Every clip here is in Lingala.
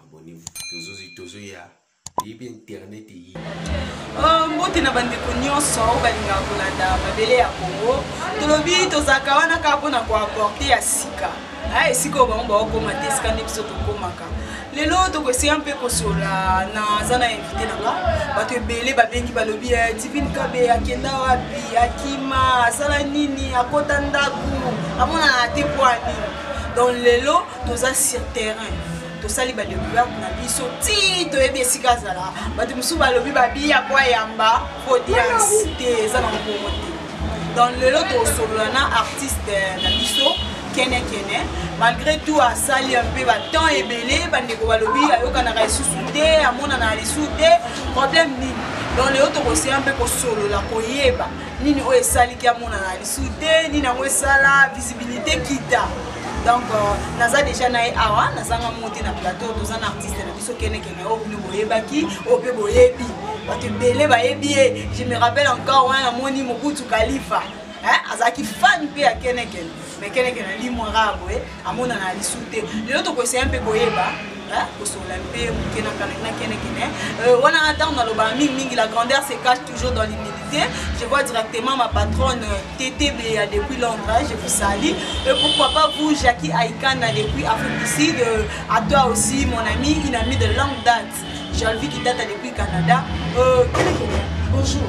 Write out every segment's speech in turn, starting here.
abonnez-vous tozozi tozoya yebi internet eyi oh, mbote na bandeko nyonso oyo balingaka kolanda mabele ya kongo tolobi tozalaka wana kaka mpona koaporte ya sika ah, esika oyo bango baokoma te esika nde biso tokomaka lelo tokoesika mpe kosola naza na invité na nga bato ebele babengi balobi eh, divine kabe akenda wapi akima asala nini akota ndako amonana te mpo ya nini donc lelo toza sur terrain tosali ba découverte na biso ti toyebi esika azala bato mosusu balobi babiya po ayamba audience te eza na mbongo te donc lelo tosolola na artiste na biso kene kene malgré tout asali un peu batemps ebele bandeko balobi ayokanaka lisusu te amonana lisusu te problème nini donc lelo tokoseya mpe kosolola koyeba nini oyo esaliki amonana lisusu te nini yango esala visibilité kita donc euh, naza déjà na ye awa nazanga mo te na plateau toza na artiste na biso kenekene oyo bino boyebaki oyo mpe boyebi bato ebele bayebi ye je me rappelle encore wana namoni mobutu kalifa azalaki fan mpe ya kenekene me kenekene alimwaka boye amonana lisu te lelo tokoeseye mpe koyeba kosolola mpe moke na kanakinakenekene euh, wana na ntango nalobaka mingi mingi la grandeur se cache toujours dans l'humilité je vois directement ma patronne euh, ttb ya euh, depuis londres je vous salie et pourquoi pas vous jacqui aikana depuis afrique du sud à toi aussi mon ami une amie de longue date jalvi qui date depuis canada euh, bonjour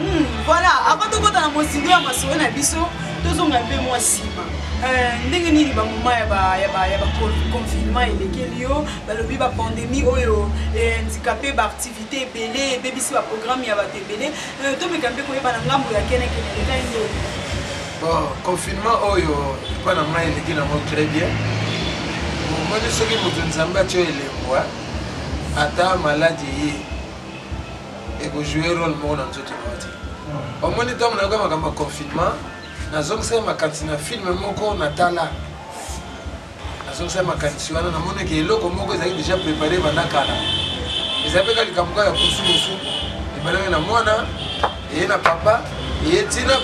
Hmm, voilà avant tokota na mozindo ya masolo na biso tozonga mpe mwa nsima euh, ndenge nini bamoma ya baconfinement elekeli yo balobi bapandemie oyo endika mpe baaktivité ebele ebebisi baprogramme ya bato ebele euh, tomeka mpe koyeba na ngambo ya kenekene ekai nde bon confinement oyo epa na ngai eleki nango très bien omoni soki moto nzambe atyo elembwa ata maladi ye ekojoue role moko na nzoto na yo te omoni ntango nayoka makambo ya confinement nazongisaki makanisi na filme moko natala nazongisaki makanisi wana namonaki eloko moko ezali déjà prépare banda kala eza mpe ka likambo kaka ya kusukusu ebalaki na mwana eye na papa eye ntina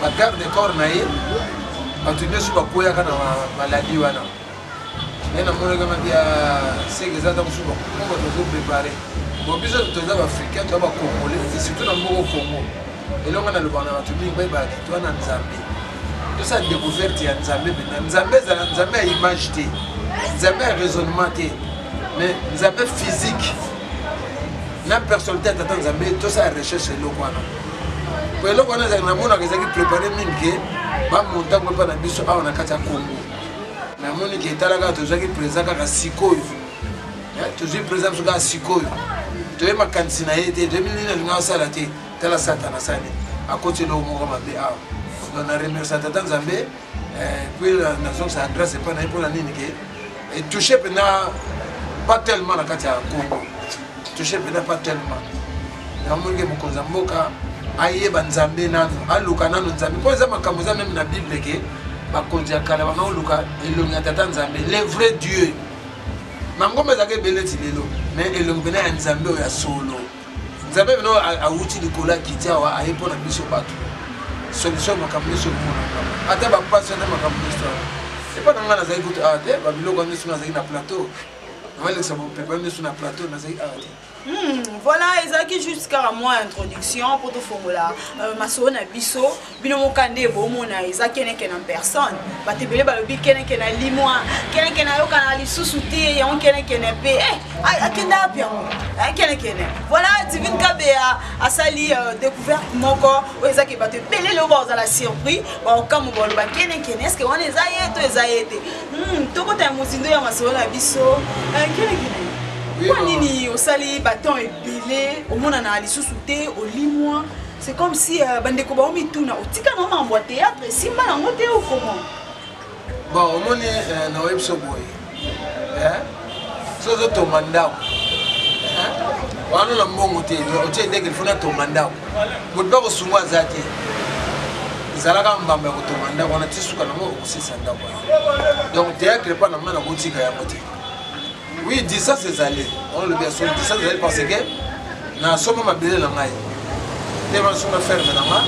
bagarde corps na ye bato nyonso bakweyaka na maladi wana mais namonaki mati ya seke eza ata mosusu bakoma bato bazoprepare bon biso toza baafricain toza bacongolais surtout na mboko congo elonga nalobaka na bato mingi bayebaka te toza na nzambe tosala découverte ya nzambe mpena nzambe ezala nzambe ya image te nzambe ya raisonnement te mais nzambe physique na personnalité ya tata nzambe tosala recherche eloko wana po eloko wana ezalaki namonaka ezalaki prépare mingi ke bamontango epa na biso awa na kati ya congo namoni ke etala kaka tozwaki président kaka sikoyo eh, tozwi président biso kaka sikoyo toye makanisi na ye te toyebi nini alinga asala te tala satana asali akoti eloko moko mabe awa donc na remercia tata nzambe eh, puis nazongisa adresse epai na ye mpona nini ke etouche mpena pas tellement na kati ya congo touche pena pas tellement namonike mokonzi ya mboka ayeba nzambe nanu aluka nanu nzambe mpo eza makambo eza meme na bible ke bakonzi ya kala banga oluka elongi ya tata nzambe le vrai dieu mangomba ezalaka ebele ti lelo mais elongi pena ya nzambe oyo ya solo nzambe pena awuti likolo akiti awa aye mpo na biso bato solution makambo nyonso omonaka ata bapasi ata makambo nyonso epa na ngai nazali kutu awa te babiloko nyonso nazali na plateau nabalekisa bopepa miso na plateau nazali awa te Hmm, voilà ezalaki juste kaka mwa introduction mpo tofongola euh, masolo na biso bino moka nde bomona eza keneke na personne bato ebele balobi keneke na limwa keneke nayokana lisusu te yango kenekene mpe eh, akenda wapi yango eh, kenekene voilà divine kabeya asali euh, découverte moko oyo ezaki bato ebele leo bakozala surpris baokambo baloba kenekene eske wana eza ye to eza ye te Hmm, tokota ya mozindo ya masolo na biso eh, kelekele mpo nini osali baton ebele omonana lisusu te olimwa c'est comme si euh, bandeko bango mituna otika na mambo ya théâtre esimba nango te okomo bon omoni euh, na oyebisa boye so ozotonga ndako wana na mbongo te otie ndenge lifo natonga ndako moto mpe kosunga aza te ezalaka mbamba ya kotonga ndako wana ti suka nango okosisa ndako wana donc théâtre epa na ma nakotika yango te oui distance ezali olobi ya solo distance ezali parce que nasomba mabele na ngai nde banasomba ferme na nga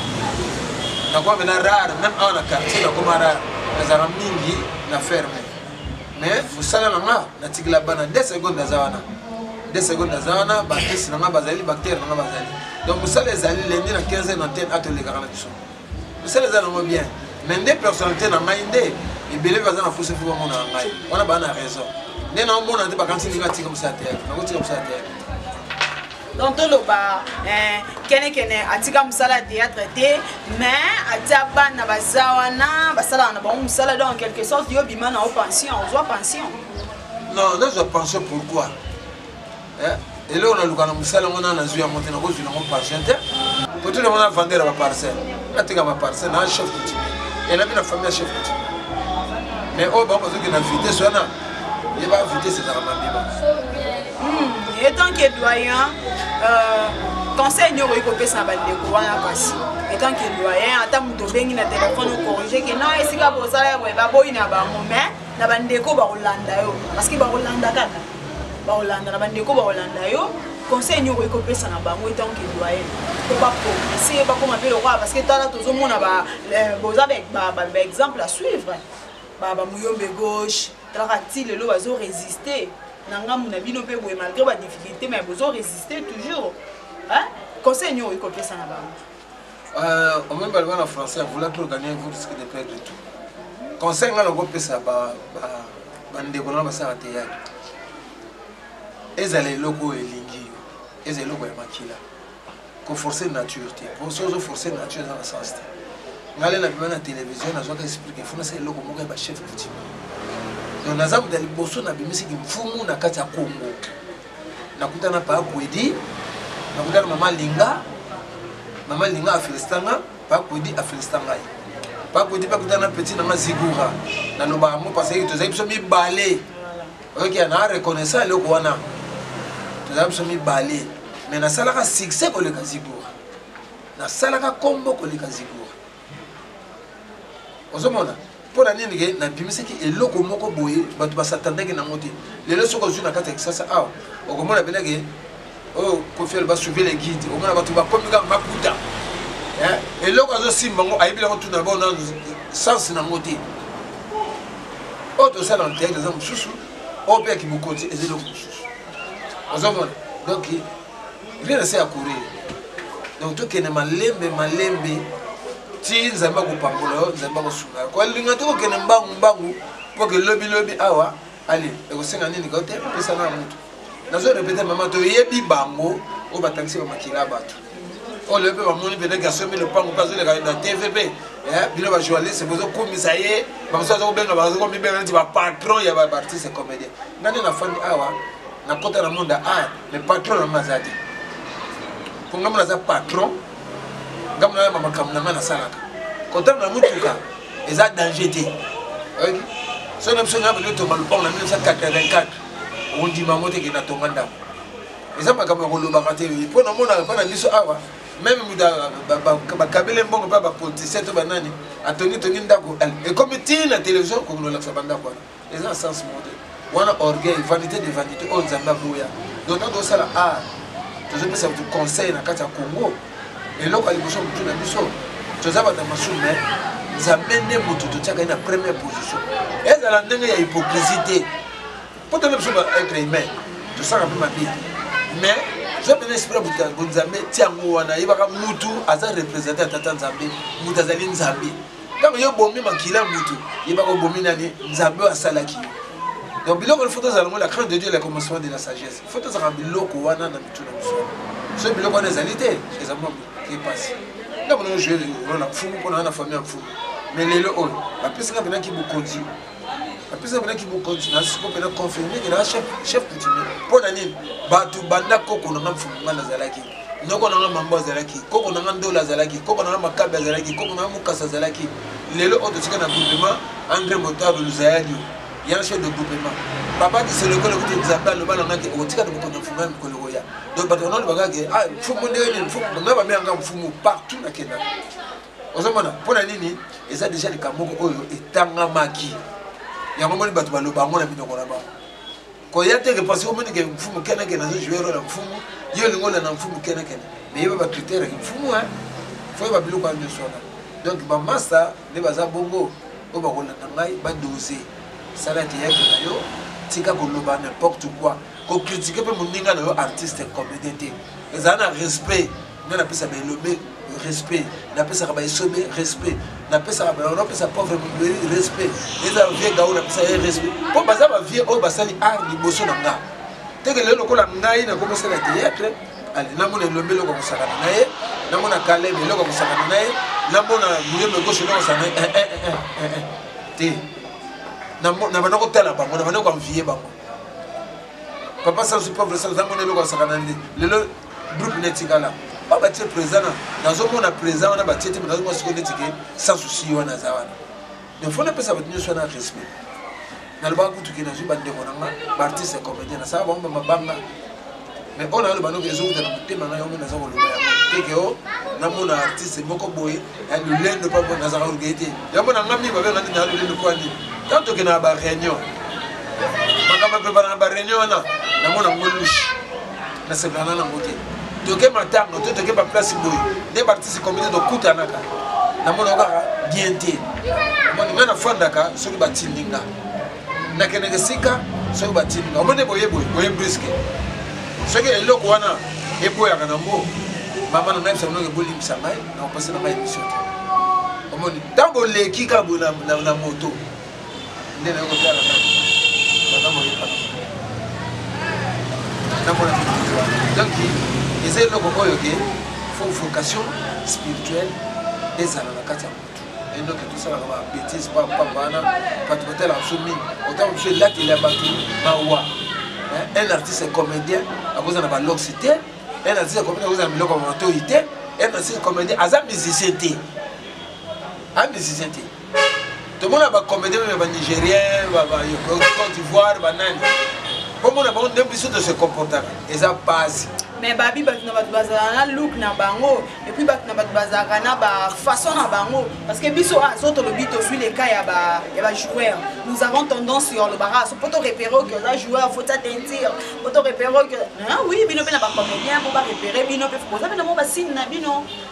nakoma mena rare meme awa na quartier nakoma rare nazalaka mingi na ferme mais mosala na nga natikela bana 2 seconde naza wana 2 seconde naza wana bakisi na nga bazali bactere na nga bazali donc mosala ezali lendi na 15 heure na tene atolekaka na biso mosala eza nango bien mais nde personnalité na ngai nde ebele baza na posa fo bamona na ngai wana baa na raison nde naomona te bakanisi ndenge atika mosala teyatre nakotika mosala teyatre donc toloba eh, kenekene atika mosala ya théâtre te mais atia bana baza wana basalaka na bango mosala donc en quelque sorte yo bima na yo pension ozwa pension non nazwa pension pourquoi eh, eloko naluka na mosala yango na nazwi yango te nakozwi nango pension te koto nango na vendeur ya baparcelle nateka baparcelle na chef coutume elabi na famille ya chef coutume mais oyo bango bazokende na vitesse wana ye ba vitesse ezalaka mabeba Hmm, etant que doyen euh, conseil nio okoki kopesa na bandeko wana kasi etant que doyen ata moto obengi na telefone okorige ke na esika bosala ya boye baboyi na bango mais na bandeko bakolanda yo parceke bakolanda kaka bakolanda na bandeko bakolanda yo conseil nio okoki kopesa na bango etant que doyen po baprogrese bakoma mpe lokola parceke tala tozomona euh, boza baexemple à suivre bamuyombe gauche talaka ti lelo bazo resiste na ngambo na bino mpe boye malgré ba difficulté mais bozo resiste toujours hein? conseil nio okoki kopesa na bango euh, omoi baloba na français ya vouloir trop gagner vous risque de perdre tout conseil ngai nakopesa bandeko na basala teyatre ezala eloko oyo elingi yo ezala eloko ya makila ko forcer nature te po soki ozo forcer nature eza na sens te ngai le nabima na télévision nazwaka explique fo nasala eloko moko ya bachef coutumier donc naza kuta liboso nabimisi kimfumu na kati ya congo nakuta na paa kwedi nakuta na mama linga mama linga afelisita nga paa kwedi afelisita ngai paa kwedi mpe akuta na petit na nga zigura nalobaka mo parce que tozali biso mibale oyoki okay, na reconnaissant eloko wana tozala biso mibale mais nasalaka succès koleka zigora nasalaka kombo koleka zigora ozomona mpo na nini ke nabimisaki eloko moko boye bato basatandaki nango te lelo soki ozwi na kati ya kisasa awa okomona mpenake oyo oh, kofial basuve le guide omona bato bakomi kaka makuta eh, eloko azosimba yango ayebi yango tuna bao na sense na yango te oyo oh, tosala na teatre eza mosusu oyo oh, mpe ya kimokonzi eza eloko mosusu ozomona donc rien ase ya courir donc tokende malembe malembe ti nzambe akopambola yo nzambe akosunga yo kolinga te kokende mbangu mbangu mpo ke lobilobi awa ale ekosenga nini kao te pesa na motu nazo repete mama toyebi bango oyo batangisi bamakila ya bato oyo lelo mpe bamoni peut-être asombi lopango mpe azoleka na tv mpe eh, bino bajournaliste bozokumisa ye bamosusu aza kobenga bazokomibenga neti bapatron ya baartiste comédien nga nde nafandi awa nakota na monde a art mais patron na nga aza te mpo ngambo naza patron ngambo nayamba makambo na ngai nasalaka kotanga na motuka eza danger te oyoki soki na biso nayamba totonga lopango na 1984 ondima yango te ke natonga ndako eza makambo ya kolobaka te mpo namonaka mpo na biso awa meme mutu bakabele mbongo mpe bapolitisien to banani atongi tongi ndako ekomi tii na televizio kokondolakisa bandako wana eza na sens moko te wana orgueil vanité de vanité oyo nzambe aboya donc ntango tosala art tozopesa bato conseil na kati ya congo eloko ya liboso motu na biso toza bato ya masumu me nzambe nde moto totiaka ye na première position ezala ndenge ya hypocrisie te mpo tole biso baêtre humain tosaka mpe mabe mais zo mpe na esprit ya moto ya bonzambe ti yango wana yebaka motu aza représente ya tata nzambe moto azali nzambe ntango yo obomi makila ya motu yebaka obomi nani nzambe oyo asalaki yo donc biloko fo tozala yango la crainte de dieu la commencement de la sagesse fo tozalaka biloko wana na mitu na biso so biloko wana ezali te eza mwa epasi ntango nayo jue role ya mfumu mpo naa na famille ya mfumu mais lelo oyo bapesi nga mpenaki bokonzi apesa mpena kibokonzi na siko mpena confirme ke naa chef coutumier mpo na nini bato banda koko na nga mfumu nga nazalaki noko na nga mambo azalaki koko na nga ndola azalaki koko na nga makabe azalaki koko na nga mokasa azalaki lelo oyo totika na groupement andre motable luzayadio ya chef de groupement papa kiselokolo kuti nzambe aloba na ngaki okotika tokokonda mfumu ya mikolo koya donc bato banano bakake ah, mfumu ndenge nini mfumu nga bameyanga mfumu partout nakendaka ozomona mpo na nini eza deja likambo moko oyo etangamaki yango moni bato baloba yango na minoko na bango koya te ke parce omoni ke mfumu kenekene azo joue role ya mfumu yo olingi olanda mfumu kenekene mais yeba bacritère yaki mfumu e fo yeba biloko ya nyonso wana donc bamasta nde baza bongo oyo bakolanda ngai badose sala ete yaki na yo tika koloba n'importe quoi kokritike mpe moninga na yo artiste comédien te ezala na respect nga napesa baelobe respect napesaka baesobe respect napesaka napesa pauvre mobeli respect eza bavie gao napesa ye respect mpo baza bavie oyo basali art liboso na nga teke lelo lokola ngai nakomosala théâtre namona elombe eloko kosakana na ye namona kalebe eloko kosakana na ye namona muyembe gauche eloko kosakana na ye te nabanda kotala bango nabanda koanviye bango papa sansu pauvre sansu amona eloko asakana nde lelo groupe na etikala ba batie président na nazomona président wana batie te nazomona sikoyo neti ke sans souci ye wana aza wana donc fo napesa bato nyonso wana respect nalobaka kutu ke nazwi bandeko na nga baartiste ya comédien nasala bango bamabanga mais oyo nayoloba noki ezowuta na motema ngai yango naza koloba yango teke o namona artiste moko boye ya lolendo mpa mpo nazaka koluka ye te yango na ngai mingi babenga ntina ya lolendo mpo ani ntango tokenda na bareunion makambo epepanaka bareunion wana namona ngo lushe nasepelana nango te toke matanga to toke baplace boye nde baartiste komite tokutanaka namonaka kaka bien te omoni ngai nafandaka soki batindi nga nakendeke esika soki batindi nga omoni boye boye boye briske soki eloko wana eboyaka nango mama na nayebisa bino ebolimbisa ngai nakopesa na ngai emission te omoni ntango oleki kaka boye na moto nde naye kotala na baza moyeba namona donc eza eloko oyo ke fo vocation spirituelle ezala na kati ya motu endoki tosalaka ba bétise papa wana bato batalaka biso mingi otanga biso elateli ya bato mawa un artiste comédien akozala na baloxi te un artiste comédien akozala na biloko ya matoi te un artiste comédien aza musicien te a musicien te tomona bacomédien ya banigérien côte d'ivoire banani komona bango nde biso tose comportaka eza pasi mais babi bato na bato bazalaka na look na bango epuis bato na bato bazalaka na bafaçon na bango parce que biso oyo ah, azo tolobi tozwi leka ya bajoueur nous avons tendance yo olobaka so mpo torepere oke oza joueur faut ta teinture mpo torepere oke oui bino mpe na bacomédien mpo barepere bino mpe boza mpe na mwa basine na bino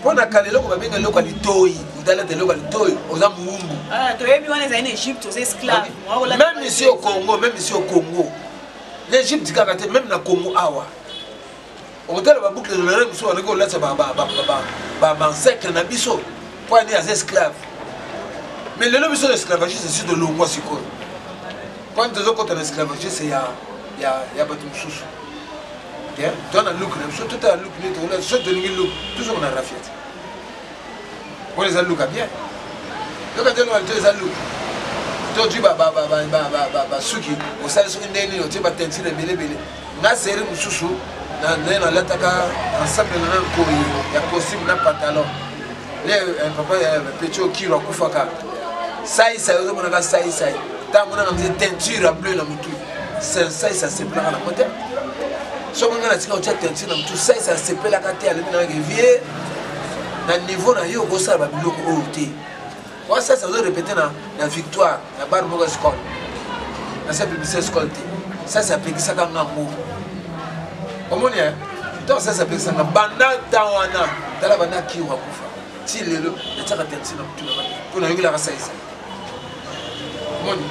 mpo na kala eloko babenga eloko ya litoi otalata eloko ya litoi oza mowumbu ah, toyebi wana ezali na egypte oza esclave meme ici au congo meme ici au congo na egypte kaka te meme na congo awa okotala babukle lolere mosusu banoki kolatisa bansekre na biso mpo ani aza esclave mais lelo biso na esclavagiste esi tolongwa sikoyo mpo ani tozokota na esclavagiste ya bato mosusu te toa na look na biso totala look nde tokola so tolingi look tozonga na rafia te wana eza look ya bien yoka te loka te eza look tozwi basuki osali soki ndenge nini otie batentire ebelebele nga seri mosusu naye nalataka ensemble na na nkoi ya costume na pantalon le eh, papa eh, petit okilo akufaka saisai ozomonaka saisai ntango monaka mze teinture ya bleu na motu saisa asepelaka na mote soki ngai natika otya teinture na motu saisa asepelaka te alobi nayake vie na niveau na yo okosala babiloko oyo te Wa sasa ozo répéter na na victoire na bar moko escole. Na sa publicité escole te. Sasa apekisaka nga ngo. Omoni eh? Donc sasa apekisa nga banda temps wana tala banda kiwa kufa. Ti lelo natyaka taxi na mutuna ba. Mpo nayokelaka saisa. Omoni?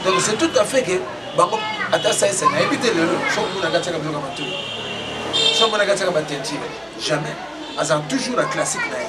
Donc c'est tout à fait que bango ata saisa nayebi te lelo soki muna katyaka biloko ya matoi. Soki muna katyaka batentire jamais. Azala toujours na classique na ye.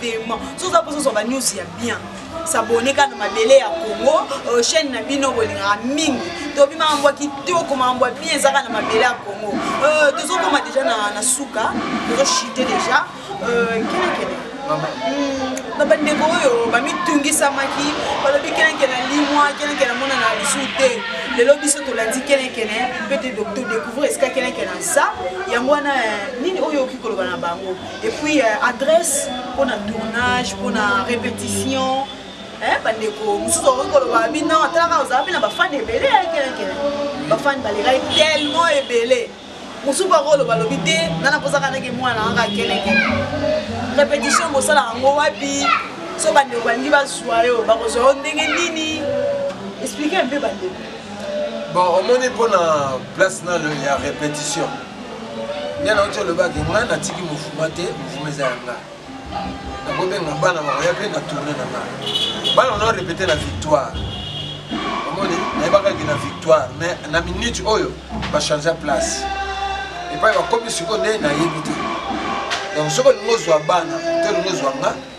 paiement soki oza mposa ozwa banews ya bien sabone kaka na mabele ya congo euh, chaîne na bino bolingaka mingi tobi makambo ya kitoko makambo ya bien ezaka na mabele ya congo euh, tozokoma deja na suka tozoshite deja euh, kelekele hmm, na bandeko oyo bamitungisamaki balobi keleke na limwa keleke na mona na lisu te lelo biso tolandi kelekene mpe te découvrir esika keleke na za yango wana eh, nini oyo oki koloba na bango et puis euh, adresse mpona tournage mpona répétition eh, bandeko mosusu okoki koloba bino ata kaka ozala mpe na bafane ebele kelekele bafane balekaki tellement ebele mosusu mpe akoloba lobi te nana mpozaka ndenge mwana anga kelekele répétition bosala yango wapi so bandeko balingi bazwa yo bakozwa yo ndenge nini explike mpe bandeko bon omoni mpona place nalo ya répétition nyana oti olobaki ngai natiki mofuma te mofuma eza ya ngai nakobenga bana bakoya mpe na tourne na ngai bana ono repete na victoire omoni nayebakaki na victoire mais na minute oyo bachangea place epai bakomi sikoyo nde nayebi te donc soki olingi ozwa bana to olingi ozwa nga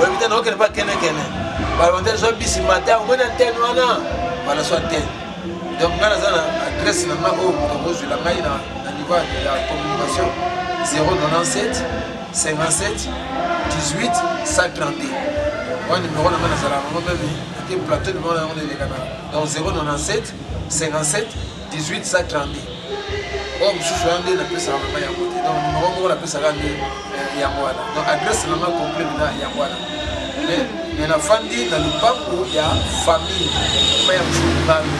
oyebi te naokende mpa kenekene balonte zwa bisi mata omoni antene wana bana zwa antene donc ngai naza na adresse na ngai oyo moto akozwela ngai na niveau ya communication 097 57 18 132 wana numero na ngai nazalaka yango meme ete plateau numero na yango na elekana donc 097 57 18 sa 32 oyo mosusu wana nde napesaka mama yango te donc mama moko napesaka nde eh, yango wana donc adresse nanga complet na yango wana me nafandi na lopango ya famille ma ya msukungami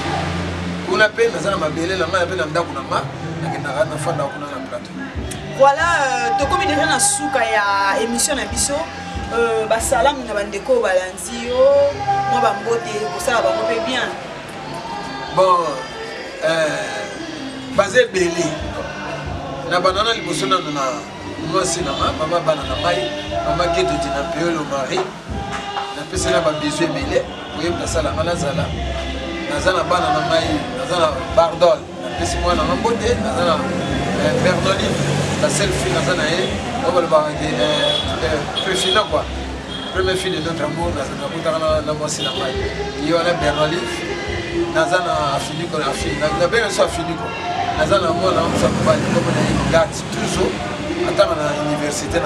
kuna mpe naza na mabele na ngai mpe na ndako na nga nakendaka nafandaka kuna na plateau voilà euh, tokomi deja na suka ya émission na biso euh, basalamu na bandeko oyo balandi yo mwa bambote kosala bango mpe bien bon euh, baza ebele na banana liboso nano na mwasi na nga mama bana na ngai mama ketoti na peolo marie napesi na babizu ebele oyebi nasala nga nazala naza na bana na ngai naza na bardol napesi mwana na mbote naza na eh, bernoline la seule fille naza na ye oyo balobaka ke prefina kua premier fille de notre amour nakutaka na mwasi na ngai ye wana bernoline naza na afiniko na afini nabenga biso afiniko naza na mwana mosa mobali koko na ye gati toujours atanga na université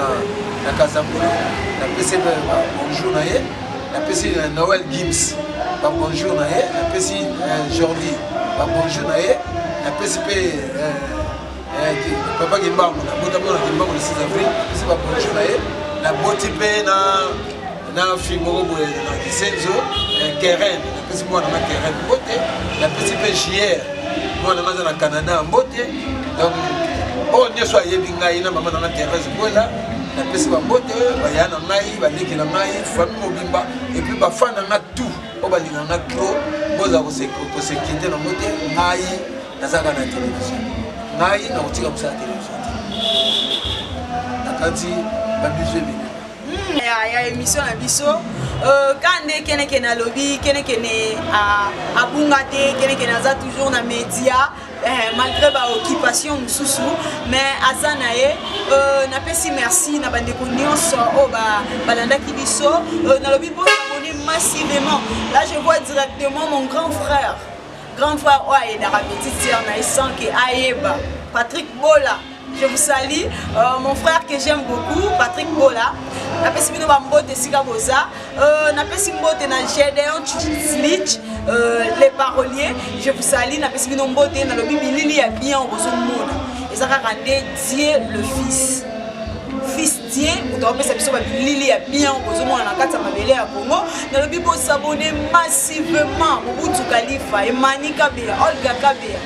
na kazambula napesi bonjour na ye napesi euh, noel gims babonjour na ye napesi euh, jordi babonjour na ye napesi mpe euh, papa kimbangu nabotama na kimbangu le 6 avril napesi babonjour na ye naboti mpe na na fille moko boye na kisenzo keren napesi mwana na keren mbote napesi mpe jier mwana naza na canada mbote donc oyo nyonso ayebi ngai na mama na nga therese bwela napesi bambote baya na ngai baleki na ngai fami mobimba epuis bafani na nga tout oyo balinga nga trop boza kosekete nango te ngai nazalaka na televizio ngai nakotika mosala televizio te nakanisi babizio ebele ya, ya émission na biso euh, ka nde kenekene alobi kenekene abunga te kenekene aza toujours na média Eh, malgré baoccupation mosusu mais aza na ye euh, napesi merci na bandeko nyonso oyo balandaki biso euh, nalobi mpo abonne massivement là je vois directement mon grand frère grand frère oyo ayedaka petite sœur na ye sans ke ayeba patrick bola Je vous salue, euh, mon frère que j'aime beaucoup, Patrick Bola. napesi bino bambote esika boza euh, napesi mbote na gedeon slich euh, le parolier je vous sali napesi bino mbote nalobi bilili ya bien bozomona eza kaka nde dieu le fils fils dieu moto akopesa biso babilili ya bien bozomona na kati ya mabele ya congo nalobi bosabone massivement mobutu kalifa emani kabeya olga kabeya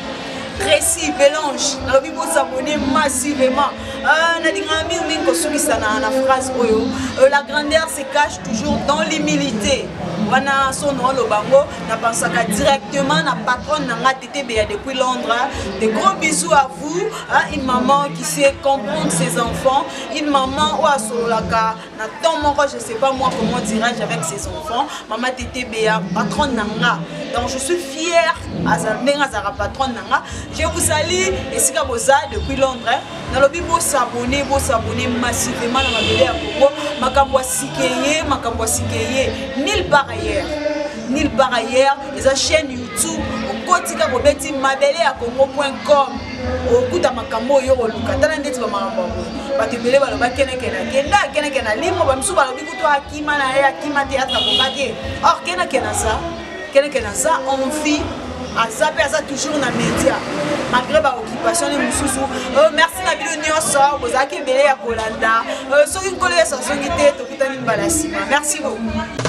Tracy Belange, nalobi bo s'abonner massivement. Euh, nalingaka mingi mingi kosukisa na, na phrase oyo euh, la grandeur se cache toujours dans l'humilité wana sono oloba yango napansaka directement na patronne na nga tetebeya depuis londres de gros bisous à vous hein, une maman qui sait comprendre ses enfants une maman oyo asololaka na temps moko je sais pas moi comment dirais-je avec ses enfants mama tetebea patronne na nga donc je suis fière ndenge azalaka patronne na nga je vous sali esika boza depuis londres nalobi bosabone bosabone massivement na mabele ya kongo makambo ya sike ye makambo ya sike ye nil par ailleurs nil par ailleurs eza chaîne youtube okotika kobeti mabele ya kongo point com okuta makambo oyo oluka tala ndeti bamakambo yango bato ebele baloba kenekena kenda kenekena limo bamisu balobi kutu akima na ye akima te ata koka te or kenekena za kenekena za envie aza mpe aza toujours na média malgré baoccupation ne mosusu euh, merci na bino nyonso bozalaki ebele ya kolanda euh, soki nkolo yesu azongi te tokutani mbala nsima merci beaucoup